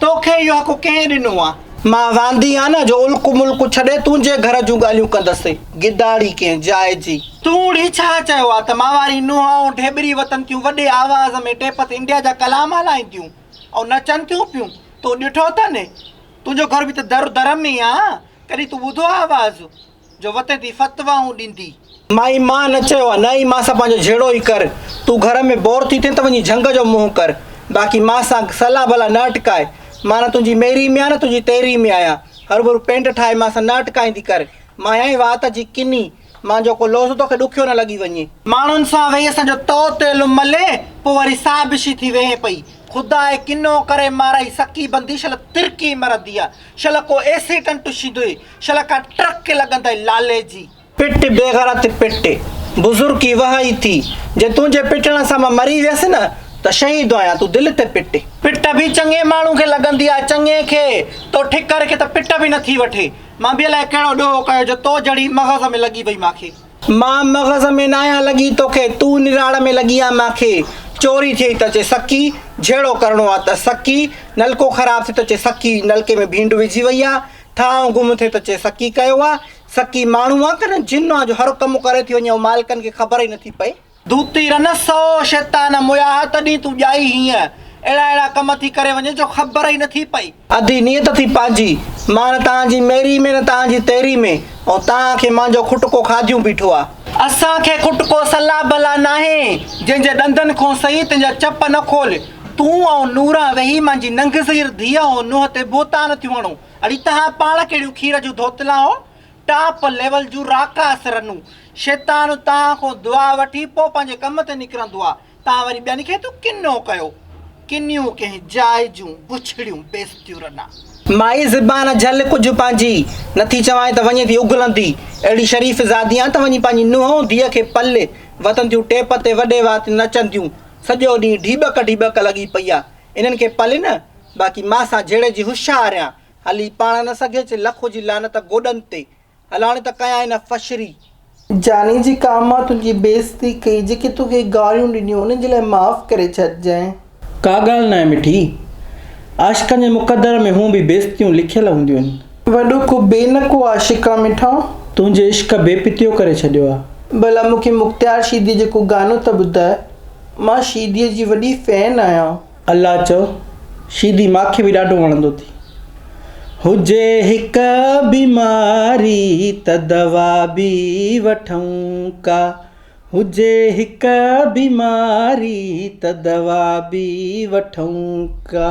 توکي اهو حق ڪنهن ڏنو آ؟ مان واندي آ نه جو الڪ ملڪ ڇڏي تنهنجي گهر جون ڳالهيون ڪندس. گداڙي ڪنهن جاء جي. تون هي ڇا چيو آ ته مان واري نونهائون ڍيٻري وتن ٿيون وڏي آواز ۾ ٽيپ تي انڊيا جا ڪلام هلائينديون ۽ نچن ٿيون پيون. تو ڏٺو اٿن؟ تنهنجو گهر به ته در در ۾ آ. ڪڏهن تون ٻڌو آ آواز؟ جو وتين ٿي فتوائون ڏيندي. مائي مان نه چيو آ نه ئي مان سان پنهنجو جهيڙو ئي ڪر. تون گهر ۾ بور ٿي ٿين ته وڃي جهنگ جو منهن ڪر. باقي مان سان صلاح بلاح نه اٽڪاء. مان نه تنهنجي ميري ۾ آهيان نه تنهنجي تيري ۾ آهيان. هروڀرو پينڊ ٺاهي مان سان نه اٽڪائيندي ڪر. مان آهيان ئي وات جي ڪني. مان جو ڪو لوظ توکي ڏکيو نه لڳي وڃي. ماڻهن سان ويهي اسان جو تو تيل ملي پوء وري سابشي ٿي ويهين پئي. خدا ئي ڪنو ڪري مارئي سڪي بندي شل ترڪي مرندي آ. شل ڪو ايسيٽنٽ شيندوئي. شل کان ٽرڪ لڳن تائين لالي جي. پٽ بيغرت پٽ، بزرڪي وهائي ٿي، جي تنهنجي پٽڻ سان مان مري ويس نه ته شهيد آهيان، تون دل تي پٽ. پٽ به چڱي ماڻهو کي لڳندي آهي، چڱي کي، تو ٺڪر کي ته پٽ به نٿي وٺي، مان به الائي ڪهڙو ڏوهو ڪيو جو تو جهڙي مغز ۾ لڳي وئي مان کي. مان مغز ۾ ناهيان لڳي توکي، تون نراڙ ۾ لڳي آهين مان کي، چوري ٿئي ته چئه سڪي، جهيڙو ڪرڻو آهي ته سڪي، نلڪو خراب ٿئي ته چئه سڪي، نلڪي ۾ ڀينڊ وجهي وئي آهي، ٺا آئون گم ٿي ته چئي سڪي ڪيو آ، سڪي ماڻهو آ ڪنه جن آ جو هر ڪم ڪري ٿي وڃي ۽ مالڪن کي خبر ئي نٿي پئي. دوتي رنس سو شيطان موياه تڏهين تون ڄائي هينئن اهڙا اهڙا ڪم ٿي ڪري وڃين جو خبر ئي نٿي پئي. ادي نيت ٿي پنهنجي مان نه تان جي ميري ۾ نه تان جي تيري ۾ ۽ تان کي مانجو کٽڪو کاڌيون بيٺو آ. اسان کي کٽڪو صلاح بلا ناهي جنهن جي ڏندن کون سهي تنهن جا چپ نه کول. تون ۽ نوح ويهي منهنجي ننگزير ڌيء ۽ نوح تي بهتان ٿيون هڻو. اڙي توهان پاڻ ڪهڙيون کير جون ڌوتلان آهو، ٽاپ ليول جون راڪاس رنون. شيطان توهان کان دعا وٺي پوء پنهنجي ڪم تي نڪرندو آهي. توهان وري ٻين کي ٿيون ڪنو ڪيو. ڪنيون ڪنهن جاء جون بڇڙيون بيستيون رنا. مائي زبان جهل ڪجهه پنهنجي. نٿي چوانء ته وڃي ٿي اگهلندي. اهڙي شريف زادي آن ته وڃي پنهنجي نوح ۽ ڌيء کي پلي وتنديون ٽيپ تي وڏي وات نچنديون. سڄو ڏينهن ڍيٻڪ ڍيٻڪ لڳي پئي آ انهن کي پلي نه باقي مان سان جهيڙي جي هش آ رهيان هلي پاڻ نه سگهي چي لک هجي لعنت گوڏن تي هلاڻي ته ڪيان هن فشري جاني جي ڪا مان تنهنجي بيعزتي ڪئي جيڪي توکي گاريون ڏنيون انهن جي لاء معاف ڪري ڇڏجانء. ڪا ڳالهه ناهي مٺي عاشقن جي مقدر ۾ هونئن به بيعزتيون لکيل هونديون آهن. وڏو ڪو بي نه ڪو عاشق آ مٺا. تنهنجي عشق بي پتيو ڪري ڇڏيو آ. ڀلا مون کي مختيار شيدي جو ڪو گانو ته ٻڌاء مان شيدي جي وڏي فين آهيان. الله چؤ شيدي ماکي به ڏاڍو وڻندو ٿي. هجي هڪ بيماري ته دوا به وٺون ڪا هجي هڪ بيماري ته دوا به وٺون ڪا.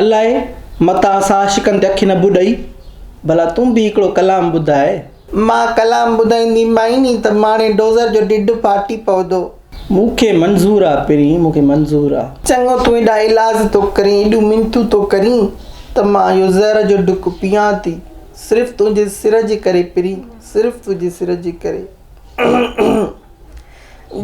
الاء متان اسان عاشقن تي اکي نه ٻڏئي. ڀلا تون به هڪڙو ڪلام ٻڌاء. مان ڪلام ٻڌائيندي مائين ني ته ماڻي ڊوزر جو ڍڍ ڦاٽي پوندو. مون کي منظور آ پرين مون کي منظور آ. چڱو تون ايڏا ايلاز ٿو ڪرين ايڏيون منٿون ٿو ڪرين ته مان اهو زهر جو ڍڪ پيئان ٿي صرف تنهنجي سر جي ڪري پرين صرف تنهنجي سر جي ڪري.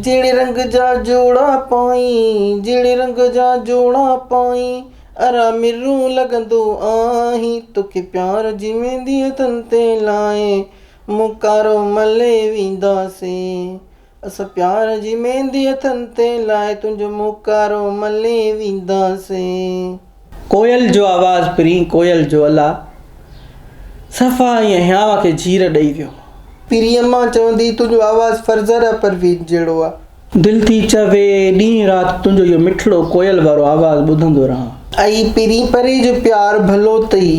جهڙي رنگ جا جوڙا پائين، جهڙي رنگ جا جوڙا پائين، ارا مرو لڳندو آهين، توکي پيار جي مينديء تن تي لائي، مون ڪارو ملي وينداسين، اسان پيار جي مينديء تن تي لائي، تنهنجو مون ڪارو ملي وينداسين. ڪوئل جو آواز پرين ڪوئل جو الا صفا ائين هيانء کي جير ڏئي ويو. پرين مان چوندي تنهنجو آواز فرزره پروين جهڙو آ. دل ٿي چوي ڏينهن رات تنهنجو اهو مٺڙو ڪوئل وارو آواز ٻڌندو رهان. اي پرين پري جو پيار ڀلو تئي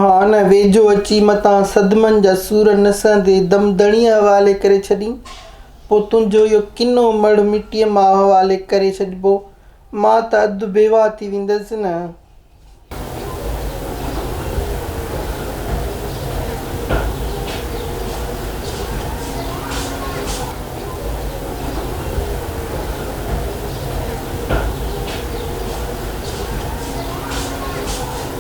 آن ويجهو اچي متان صدمن جا سور نسندي دم دڻيء حوالي ڪري ڇڏين. پوء تنهنجو اهو ڪنو مڙهه مٽيء مان حوالي ڪري ڇڏبو. مان ته اڌ بيواهه ٿي ويندس نه.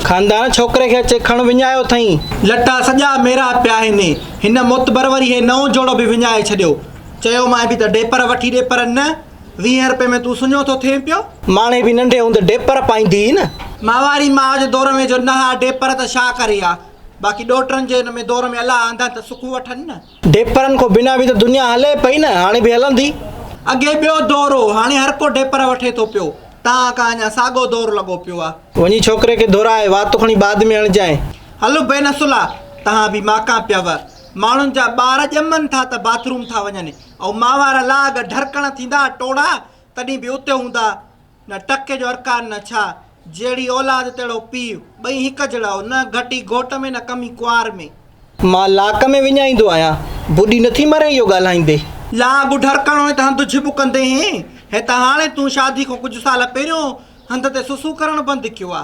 خاندان ڇوڪري کي اچي کڻ وڃايو اٿئين. لٽا سڄا ميرا پيا آهن. هن معتبر وري هي نئون جوڙو به وڃائي ڇڏيو. چيومانء به ته ڏيپر وٺي ڏيپر نه. ويهين رپئي ۾ تون سڃو ٿو ٿئين پيو. ماڻهي به ننڍي هوندي ڊيپر پائيندي هئي نه. ماهواري ماء جو دور ۾ جو نه ها ڊيپر ته ڇا ڪري ها. باقي ڏوهٽرن جي ان ۾ دور ۾ الله آندن ته سکون وٺن نه. ڊيپرن کان بنا به ته دنيا هلي پئي نه هاڻي به هلندي. اڳي ٻيو دور هو هاڻي هر ڪو ڊيپر وٺي ٿو پيو. تان ڪا اڃا ساڳو دور لڳو پيو آ. وڃي ڇوڪري کي ڌورائي واتون کڻي بعد ۾ هڻجانء. هل بي نسلا تهان به ماڪان پيو. ماڻهن جا ٻار ڄمن ٿا ته باٿروم ٿا وڃن. او ماء وارا لاڳ، ڍرڪڻ ٿيندا ٽوڙا، تڏهين به اتي هوندا، نه ٽڪي جو ارڪان نه ڇا، جهڙي اولاد تهڙو پيء، ٻئي هڪ جهڙا، او نه گهٽي گهوٽ ۾ نه ڪمي ڪنوار ۾. مان لاڪ ۾ وڃائيندو آهيان، بوڏي نٿي مري اهو ڳالهائيندي. لاڳ ڍرڪڻ هئين ته هنڌ جهٻ ڪندي هين، هي ته هاڻي تون شادي کان ڪجهه سال پهريون هنڌ تي سسون ڪرڻ بند ڪيو آ.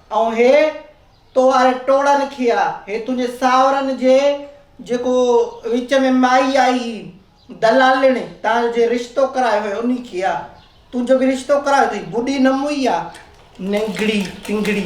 ائون هي تو واري ٽوڙن کيا، هي تنهنجي سانورن جي جيڪو وچ ۾ مائي آئي هي دلالڻي تان جي رشتو ڪرايو هي انهي کيا، تون جو به رشتو ڪرايو اٿئي بڊي نه موئي آ ننگڙي ٽنگڙي.